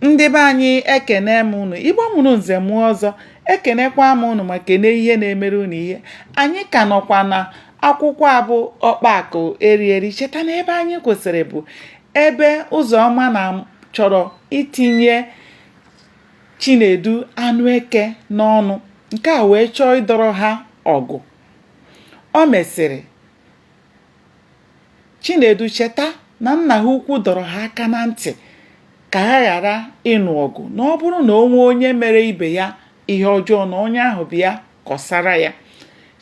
ndị be anyị ekene m unu igbo mụrụ nze mụọ ọzọ ekenekwa m unu ma kene ihe na-emere unu ihe anyị ka nọkwa na akwụkwọ a bụ ọkpa akụ eri eri cheta na ebe anyị kwụsịrị bụ ebe ụzọma na chọrọ itinye chinedu anụ eke n'ọnụ nke a wee chọọ ịdọrọ ha ọgụ o mesịrị Chinedu cheta na nna ha ukwu dọrọ ha aka na ntị ka ha ghara ịnụ ọgụ na ọ bụrụ na o nwee onye mere ibe ya ihe ọjọọ na onye ahụ bịa kọsara ya.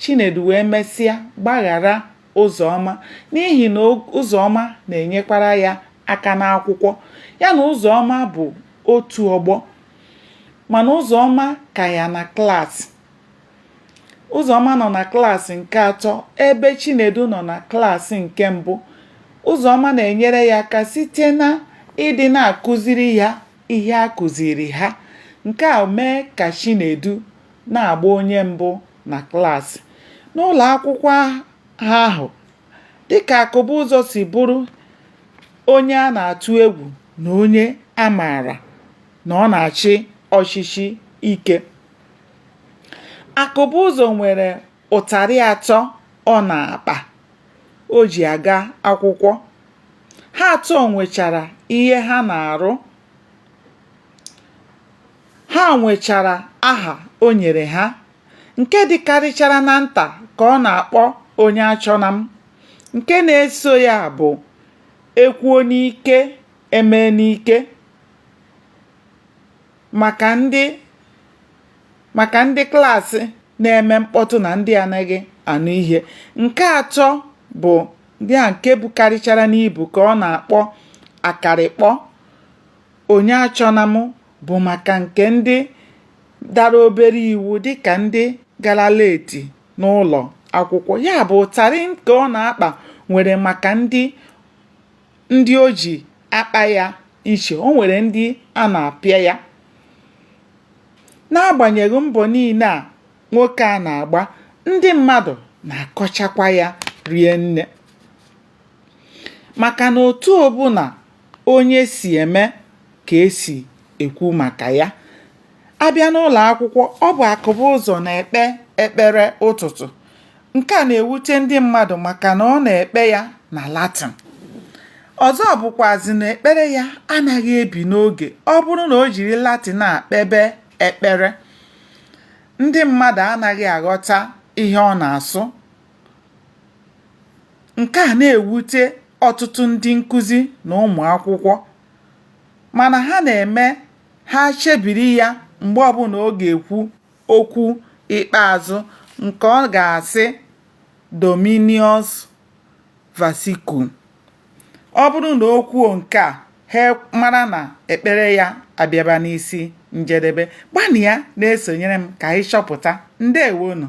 Chinedu wee mesịa gbaghara Ụzọma n'ihi na Ụzọma na-enyekwara ya aka n'akwụkwọ. Ya na Ụzọma bụ otu ọgbọ mana Ụzọma ka ya na klaasị. Ụzọma nọ na klaasị nke atọ ebe Chinedu nọ na klaasị nke mbụ. Ụzọma na-enyere ya aka site na ịdị na-akụziri ya ihe a kụziri ha. Nke a mee ka Chinedu na-agba onye mbụ na klaasị. N'ụlọ akwụkwọ ha ahụ, dịka Akụbụzọ si bụrụ onye a na-atụ egwu na onye a maara na ọ na-achị ọchịchị ike, Akụbụzọ nwere ụtarị atọ ọ na-akpa o ji aga akwụkwọ. Ha atọ nwechara ihe ha na-arụ. Ha nwechara aha o nyere ha. Nke dịkarịchara na nta ka ọ na-akpọ onye achọna m. Nke na-eso ya bụ e kwuo n'ike, e mee n'ike. maka ndị klaasị na-eme mkpọtụ na ndị anaghị anụ ihe nke atọ bụ ya nke bukarịchara n'ibu ka ọ na-akpọ akarịkpọ onye achọna m bụ maka nke ndị dara obere iwu dịka ndị gara leti n'ụlọ akwụkwọ ya bụ ụtarị nke ọ na-akpa nwere maka ndị ndị o ji akpa ya iche o nwere ndị a na-apịa ya n'agbanyeghị mbọ niile a nwoke a na-agba ndị mmadụ na-akọchakwa ya rie nne maka na otu ọbụla onye si eme ka e si ekwu maka ya a bịa n'ụlọ akwụkwọ ọ bụ Akụbụzọ na-ekpe ekpere ụtụtụ nke a na-ewute ndị mmadụ maka na ọ na-ekpe ya na Latin ọzọ bụkwazi na ekpere ya anaghị ebi n'oge ọ bụrụ na o jiri Latin a kpebe ekpere ndị mmadụ anaghị aghọta ihe ọ na-asụ nke a na-ewute ọtụtụ ndị nkụzi na ụmụ akwụkwọ mana ha na-eme ha chebiri ya mgbe ọbụla ọ ga-ekwu okwu ikpeazụ nke ọ ga-asị Dominus vobiscum. Ọ bụrụ na o kwuo nke a, ha mara na ekpere ya abịaba n'isi njedebe. Gbanịa na-esonyere m ka anyị chọpụta. Ndewonụ.